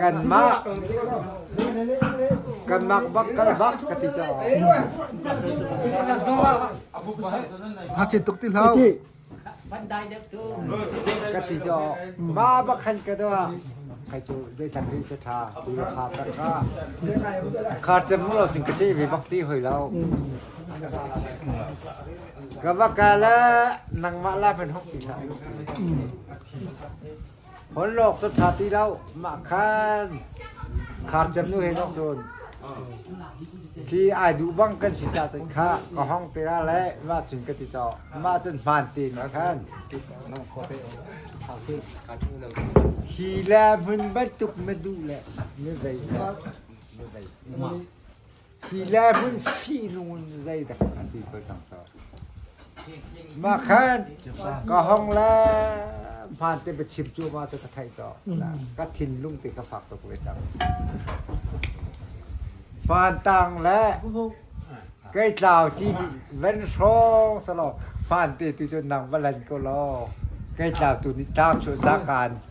kanmah kanmah bak kal bak ka ti ta ngakchia tuk ti hlau ka ti to ma ba khan ka do kai chu dei tan ri ta tha tu ra kha ta kha khar te mu lo tin ka che ve bakti hoi lo ka ba ka la nang ma la pen hok ti la Holhlawk cu ṭha ti lo, mah khan khar cem nu he zoh cun khi ai duh bang kan si ca cun khah ka hong te ah le mah cun ka ti cawk. Mah cun hmaan tein a khan. Hi le hmun bantuk na duh le na zei mah na zei mah. Hi le hmun fihnung in zeidak an ti ko cang so. Mah khan ka hong le hmaan te va chim cu ma cu ka theih so. Ka thinlung te ka fak tuk ve cang. Fantang le kai tlau ti van hrawng sa law fan te tu cu nang va lan ko law kai tlau tu nih tlau chu zakan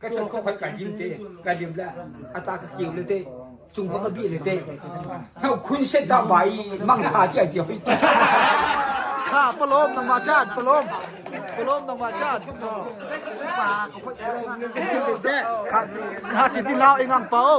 ka chan kho khat ka lim te ka lim la ata ka keu le te cung pa ka bi le te hau khun se da bai mang tha ti ti hoi ha palom nang ma chat palom palom nang ma chat pa ko kha ti lau ingang pau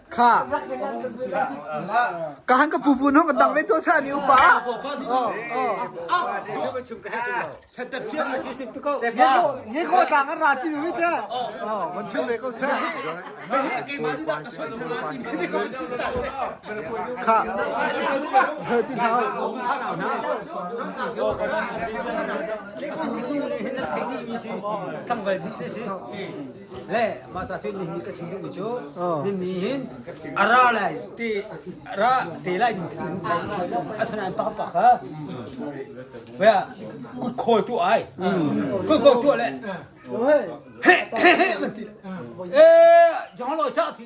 kha ka han ka pu pu nong kan dang ve to sa mi upa nge ko tlang an ra ti mi te man chim ve ko se kha ti thao Tanggal bi te si. le masa cu nih ka thin ding cu nin ni hin ara lai te ra te lai ding thing thai asana pa pa kha baya kut khol tu ai kut khol tu le he he he man ti eh jong lo cha thi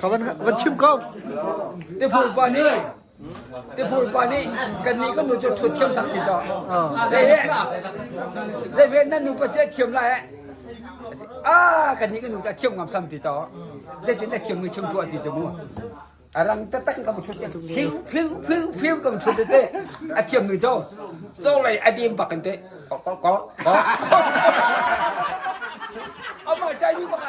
Ka van van chim ko. Tiphul pa nih tiphul pa nih kannih kan nu cu thut thiam tak ti co. Hey, zei ve nan nu pa cu thiam lai eh. Ah, kannih kan nu ta thiam ngam sam ti co. Zeitin la thiam mi chim tuah ti cu mu. Arang tatak ka thut te hiu hiu hiu hiu ka thut te a thiam mi co. Cho lei a dim bakan te. Ko ko ko. Ama chai ni baka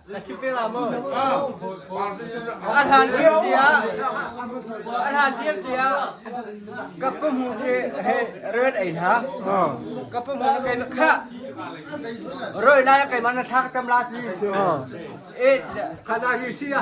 A hlan tir tiah a hlan tir tiah ka pahmu ke he rel ei hla ka pahmu na kai kha roi lai kai man na thlak tam la ti e khana hi sia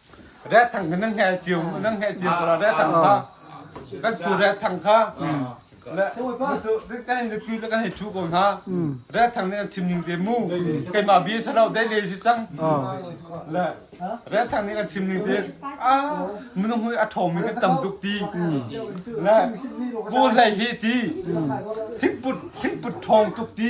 Rat thang kha nan hngai cio nan hngai cio ko la rat thang kha kan tu rat thang kha le cu kan le tu le kan hei thu ko hna rat thang ne chim ning te mu keima bi salo dai le si chang le rat thang ne kan chim ning te a munung hui a thom mi kan tam tuk ti le bu hlei hi ti thikput thikput thong tuk ti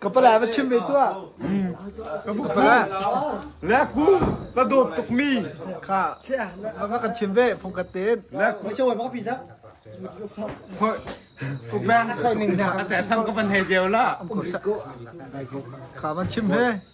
Ka pala va chim ve tuah. Ka pala. Le ku ka dawt tuk mi. Kha. Va kan chim ve phong ka ten. Le ku. Cho ba pi da. Hoi. Ubang soining na. Ate sang ka pan he dew la. Kha van chim he.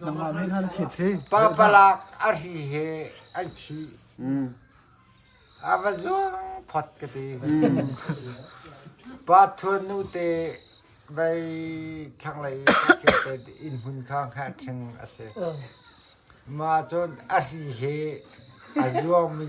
nangmah min han chiat hi parpalak a ri he an thi a va zuang phot ka ti pa thuan nu te vai thlanglei thiang te in hun kha kha theng ase ma chon a ri he a zuang mi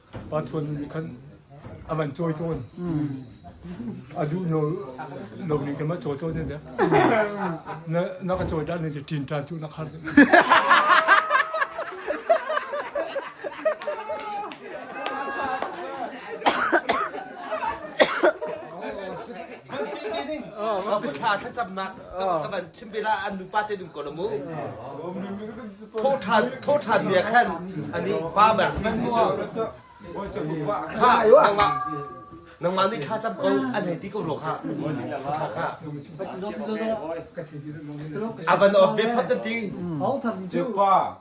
Pa Chuan nih khan a van cawi tawn. A duh no lo nih khan ma cawi tawn ne de. Na na ka cawi dan ne si tin tan tu na khar. Thla thlacamnak thawhthan thawhthan nia khan ani pa ber min cu kha nangmah nangmah nih tha cham ko an hei ti ko ro kha tha kha avan of be phat ti pa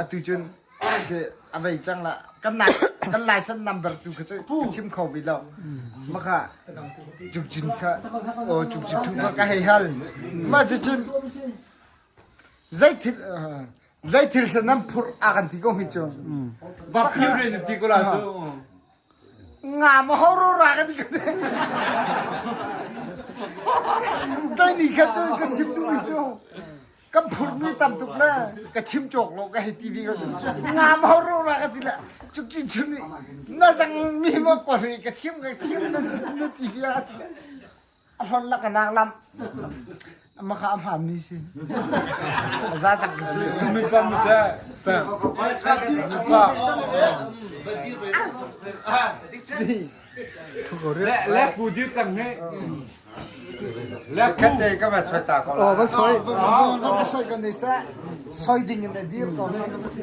atu cun a vei cang lah kan laisan number tu kha cu ka chim kho ve lo maka cukcin kha aw cukcin thu kha ka hei hal ma cu cun zei thil zei thil nan phur a kan ti ko hi cu ba phiu ne ti ko la cu Ngam horora kan ti ka ti. Tang ni kha cu ka sim duhmi cu kan phurmi tam tuk le ka chim cawk lo ka hei TV ka cu. Ngam horora ka ti le cuki cu nih na zang mi ma ko ri ka thiam ka thiam na na TV a ka ti le. a hlon lak a nak lam amma kha a hmaan mi si a za cak cu Mipa mite pe Mipa le le pu di tang he le pu kate ka ma soi ta ko oh ba soi ba soi kan nei sa soi ding in a dir ko sa ba si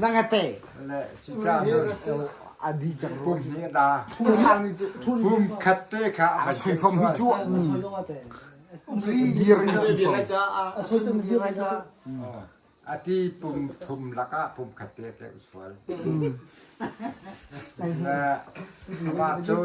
nangate adi cak pum phun ni cu pum khat te kha a sai fam cu dir ni cu ati pum thum laka pum khat te te usual ma cun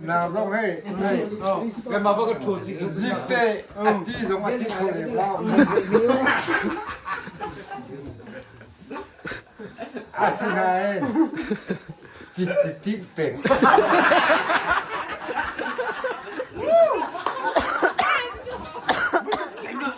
Na zong hei Kanmah bak kan ṭhut ti Zik te a ti zong a ti kho lem lo. A si nain kici ti peng.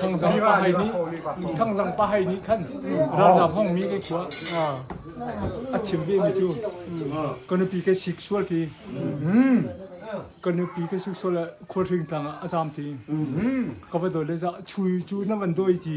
thangzang pa hai nih thangzang pa hai nih khan ralzam hong mi ke khua a chim ve mi chu kanupi ke sexual ti kanupi ke sexual khur thing tang a zam ti ka va dole za chui chu na van doi ti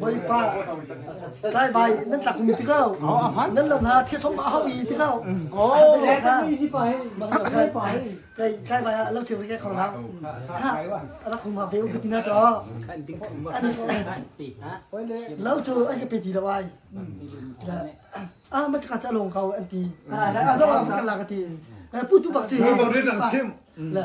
Bawipa Kai vai nan tlak mi ti ko nan lo hna thesawm a hau i ti ko o kai kai vai ah lo che ke khong hau ra khum ha ve u kitina cho lo chu ai ke pe ti lo ai a ma chaka cha long kau anti a zo ka la ka ti pu tu bak si he le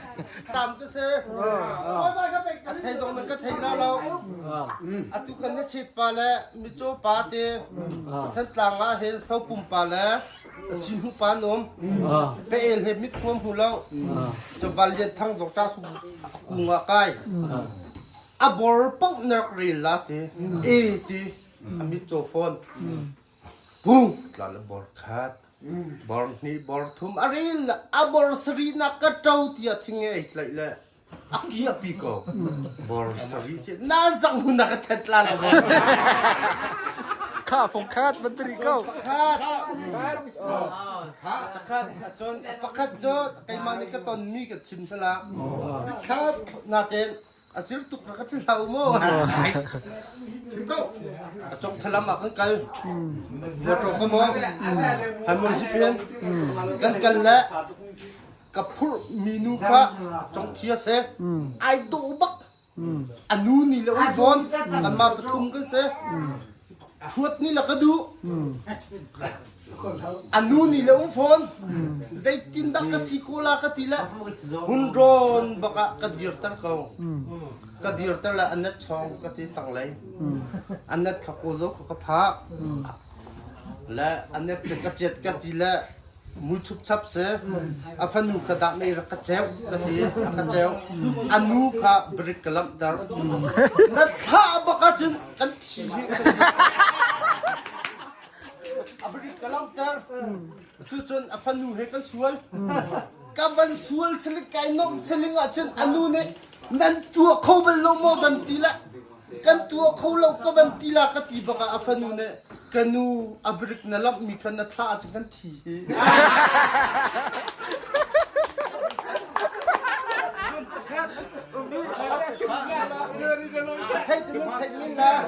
tam ka se oi bai ka pek ka thei dong na ka thei la lo atu kan na chit pa le michaw pa te than tlang a hen so pum pa le sin hu pa nom pe el he mit khom hu lo to val jet thang jok ta su ku nga kai a bor pau nak ril la te e ti ami cho phone Tlal bor khat, bor hnih, bor thum a ril le a bor sari nak ka ṭo tiah thinge ei tlaih le a pi a pi ko. Bor sari ce na zang hun na ka thet la lo. Kha fong khat van tiri ko. Pakhat. Kha pakhat cun pakhat cu keimah nih ka tonmi ka chim sala. Khat naten A zir tuk ka ti hlau maw? Sim ko. A cok thalam ah kan kal. Motor ka mo. Han mon si pian. Kan kal le ka phur minu kha cong chia se. Ai do bak. Anu ni le oi bon. Kan ma pathum kan se. Thuat ni la ka du. A nu nih le um fawn zeitindah ka si ko la ka ti le hun rawn bak ah ka dirter ko ka dirter le anat chong ka ti tanglei anat kha ko zo kha ka phak le anat che ka chet ka ti le mui chup chap se a fanu kha dak nei rak ka cheu ka ti a ka cheu a nu kha brick ka lamp ter na thla bak ah cun kan thi a balik ka lauter cucun a fanu he kan sual ka van sual saling kai nomh saling ahcun a nu nih nan tua kho bal lo maw van ti le kan tua kho lo ka van ti la ka ti bak ah a fanu nih ka nu a brik na lamh mi khan na thla ahcun kan thi Thầy cho nên thầy mình là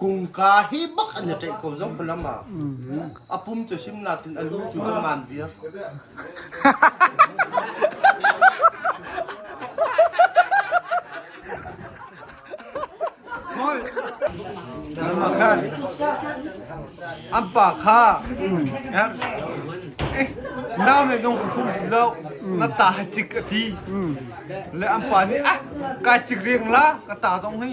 Kungka hi bak an i tlaih ko zong falam ah. A pum cu himla tin a lu tu cu ngan viar. An pa kha nau nih nung khum lo na ta cik a ti le an pa nih ah kai cik riang la ka ta zong hi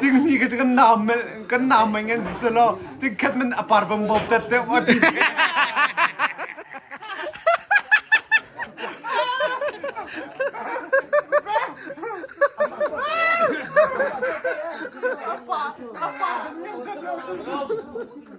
Ting ni ka kan nam kan nam mai ngan si selo ting khat man apar bam bob tet te wa ti. Apa apa apa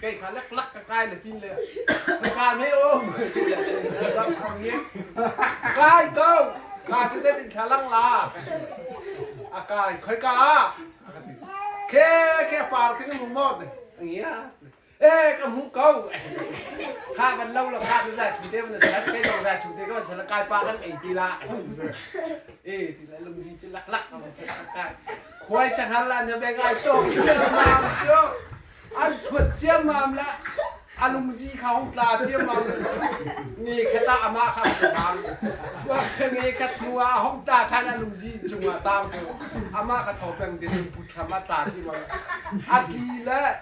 Kei kha lek lak ka kai le tin le ka ka ne o kai to ka chu te tin thlang la a kai khoi ka ke ke par tin mu mot ngia Eh ka hmu ko. Kha van lo la kha tu za chu te van sal kai lo za chu te ka sal kai pa kan ei ti la. Eh ti la lum zi chu lak lak kai. Khwai sangar la na beng ai to chiam mam chu. An thut chiam mam la. Alum zi kha hong tla chiam mam. Ni khata ama kha mam. Nge kat mua hong ta than alum zi chung a tang chu. Ama ka thopeng din put khama tla chi mam. Ati la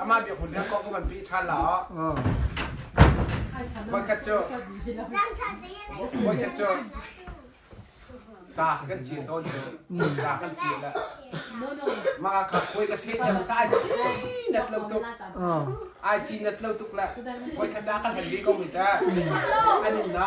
Amah biaphun he kong ka van pih ṭhan la ah. Voikhat cu voikhat cu ca kan ci tawn cu ca kan ci le mah kha koi ka se tel ka ai ci net lo tuk ai ci net lo tuk le voikhat ca kan kan bi ko mi ta anin na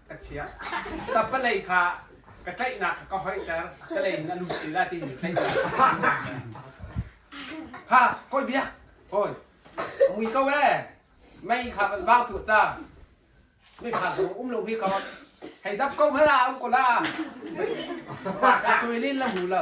ka chia ka palei kha ka tlaihnak kha ka hoiter ka lei in a lut ti la ti in tlaihnak ha koi bia oi mui ko e mei kha van vang thu cha me kha zong um lo mi ko hei dap ko ha um ko la ma ka tui lin la mu lo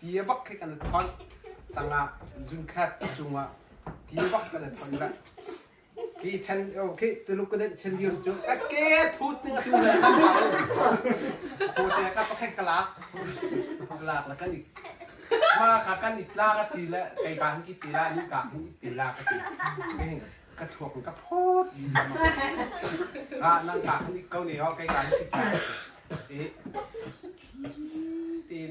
ti a bak khi kan i thonh tangah zungkhat cungah ti a bak kan i thonh le ki chen o khi tuluk ka den chen news cu ka ke phut ning tu le kan sa ko te ka pakhat ka lak lak la kan i ma ka kan i tla ka ti le kai ban ki ti la ni ka ni ti la ka ti ke ka thuak ka phut ga nang ka ni kau ne o kai ban ki ti e tin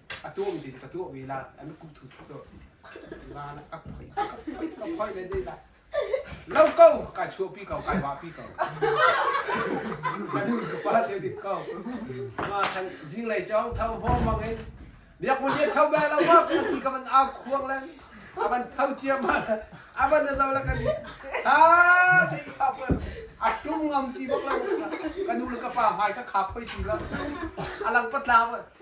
a tuam ding ka tuahmi lan an kum thu tuk cu lan a phoi a phoi le ne la lo ko kai chuo pi ko kai wa pi ko kan ka pa te dik ko ma thang jing lei chong thau ho mang in biak mu je thau ba lo ma ku ti ka man a khuang len aban thau chia ma aban na zo la kan ha ti kha per atum ngam ti bak la kan nu ka pa mai ka kha phoi ti la alang patla